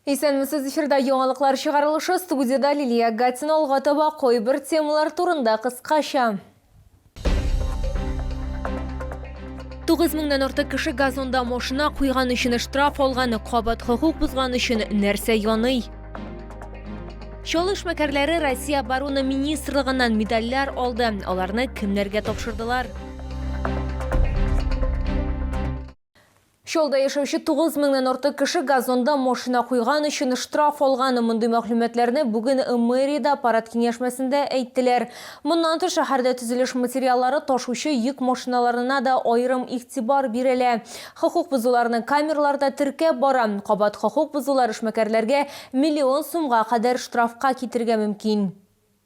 Исәнмесез, эфирда яңалыклар чыгарылышы, студиядә Лилия Гатина алга таба кайбер темалар турында кыскача. 9 меңнән артык кеше газонда машина куйган өчен штраф алган, кабат хокук бозган өчен нәрсә яный? Чал эшмәкәрләре Россия оборона министрлыгыннан медальләр алды. Аларны кемнәргә тапшырдылар? Чаллыда яшәүче 9 меңнән артык кеше газонда машина куйган өчен штраф алган. Мондый мәгълүматларны бүген мэриядә аппарат киңәшмәсендә әйттеләр. Моннан тыш, шәһәрдә төзелеш материаллары ташучы йөк машиналарына да аерым игътибар бирелә. Хокук бозуларны камералар да теркәп бара. Кабат хокук бозулар эшмәкәрләргә миллион сумга кадәр штрафка китерергә мөмкин.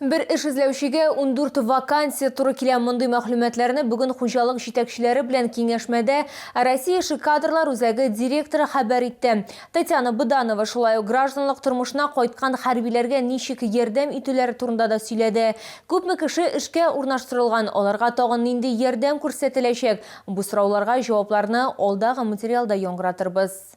Бер эш эзләүчегә ундүрт вакансия туры килә. Мондый мәгълүматларны бүген хуҗалык җитәкчеләре белән киңәшмәдә Россия эше кадрлар үзәге директоры хәбәр итте. Татьяна Быданова шулай ук гражданлык тормышына кайткан хәрбиләргә ничек ярдәм итүләре турында да сөйләде. Күпме кеше эшкә урнаштырылган, аларга тагын нинди ярдәм күрсәтеләчәк? Бу сорауларга җавапларны алдагы материалда яңгыратырбыз.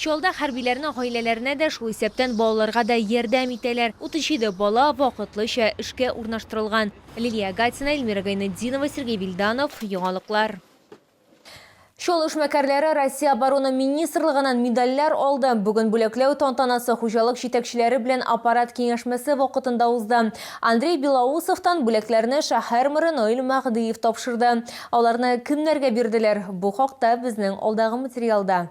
Чаллыда хәрбиләрнең гаиләләренә дә, шул исәптән балаларга да ярдәм итәләр. 37 бала вакытлыча эшкә урнаштырылган. Лилия Агатина, Эльмира Гайнетдинова, Сергей Вильданов, Яңалыклар. Чаллы эшмәкәрләре Россия Оборона министрлыгыннан медальләр алды. Бүген бүләкләү тантанасы хуҗалык җитәкчеләре белән аппарат киңәшмәсе вакытында узды. Андрей Белоусовтан бүләкләрне шәһәр мэры Наил Мәһдиев тапшырды. Аларны кемнәргә бирделәр? Бу хакта безнең алдагы материалда.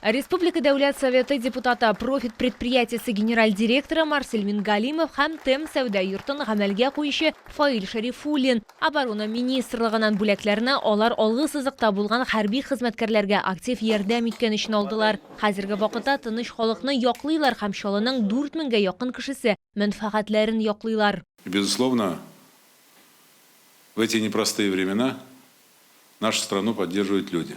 Ә республика Дәүләт Советы депутаты, Профит предприятиесе генераль директоры Марсель Мингалимов һәм ТЭМ сәүдә йортын гамәлгә куючы Фаил Шәрифуллин Оборона министрлыгыннан бүләкләрне алар алгы сызыкта булган хәрби хезмәткәрләргә актив ярдәм иткән өчен алдылар. Хәзерге вакытта тыныч халыкны яклыйлар һәм Чаллының 4 меңгә якын кешесе мәнфәгатьләрен яклыйлар. И, безусловно, в эти непростые времена нашу страну поддерживают люди.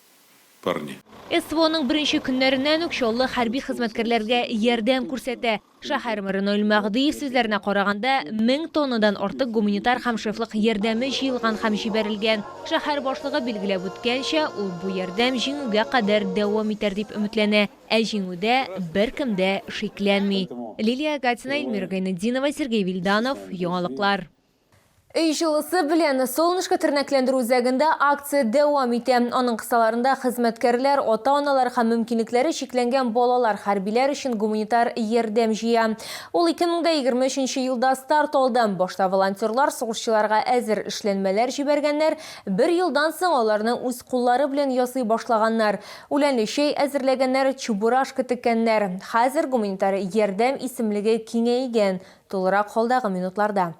парни. СВОның беренче көннәреннән үк Чаллы хәрби хезмәткәрләргә ярдәм күрсәтә. Шәһәр мэры Наил Мәгъдиев сүзләренә караганда, мең тоннадан артык гуманитар һәм шефлык ярдәме җыелган һәм җибәрелгән. Шәһәр башлыгы билгеләп үткәнчә, ул бу ярдәм Җиңүгә кадәр дәвам итәр дип өметләнә. Ә Җиңүдә беркем дә шикләнми. Лилия Гатина, Эльмира Гайнетдинова, Сергей Вильданов, Яңалыклар. Өй җылысы белән Солнышко тернәкләндерү үзәгендә акция дәвам итә. Аның кысаларында хезмәткәрләр, ата-аналар һәм мөмкинлекләре чикләнгән балалар хәрбиләр өчен гуманитар ярдәм җыя. Ул 2023 елда старт алды. Башта волонтерлар сугышчыларга әзер эшләнмәләр җибәргәннәр, бер елдан соң аларны үз куллары белән ясый башлаганнар. Үләнле чәй әзерләгәннәр, чебурашка теккәннәр. Хәзер гуманитар ярдәм исемлеге киңәйгән. Тулырак холдагы минутларда.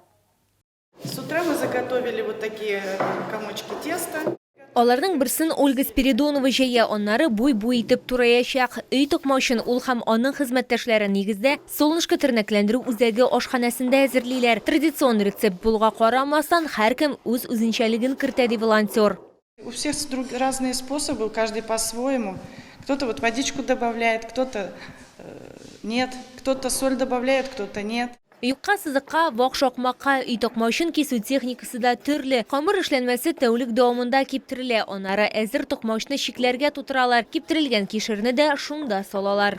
С утра мы заготовили вот такие комочки теста. Аларның берсен Ольга Спиридонова җәя, аннары буй-буй итеп тураячак. Өй токмаучын ул һәм аның хезмәттәшләре, нигездә, Солнышко тернәкләндерү үзәге ашханәсендә әзерлиләр. Традицион рецепт булуга карамастан, һәркем үз үзенчәлеген кертә, ди волонтер. У всех друг разные способы, у каждый по своему. Кто-то вот водичку добавляет, кто-то нет, кто-то соль добавляет, кто-то нет. Юкка сызыкка, вак шакмакка, өй токма өчен кисү техникасы да төрле. Камыр эшләнмәсе тәүлек дәвамында киптерелә, анары әзер токмачны чикләргә тутыралар, киптерелгән кишерне дә шунда салалар.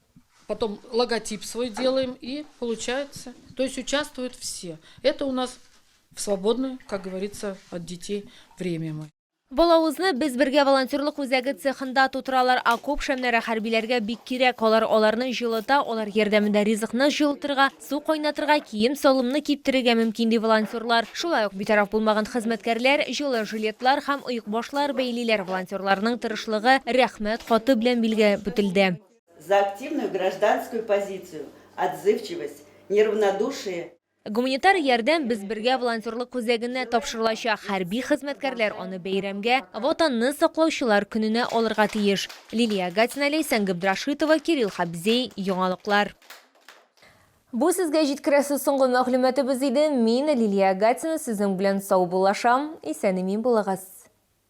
Потом логотип свой делаем и получается. То есть участвуют все. Это у нас в свободное, как говорится, от детей время мы. Балавызны без бергә волонтерлык үзәге цехында тутыралар, окоп шәмнәре хәрбиләргә бик кирәк. Алар аларны җылыта, алар ярдәмендә ризыкны җылытырга, су кайнатырга, кием салымны киптерергә мөмкин, ди волонтерлар. Шулай ук битараф булмаган хезмәткәрләр җылы жилетлар һәм оекбашлар бәйлиләр. Волонтерларның тырышлыгы рәхмәт хаты белән билгеләп үтелде. За активную гражданскую позицию, отзывчивость, неравнодушие. Гуманитар ярдәм Без бергә волонтерлык үзәгенә тапшырылачак. Хәрби хезмәткәрләр аны бәйрәмгә, Ватанны саклаучылар көненә алырга тиеш. Лилия Гатина, Ләйсән Габдрашитова, Кирилл Хабзей, Яңалыклар. Бу сезгә җиткерәсе соңгы мәгълүматыбыз иде. Мин, Лилия Гатина, сезнең белән саубуллашам. Исән-имин булыгыз.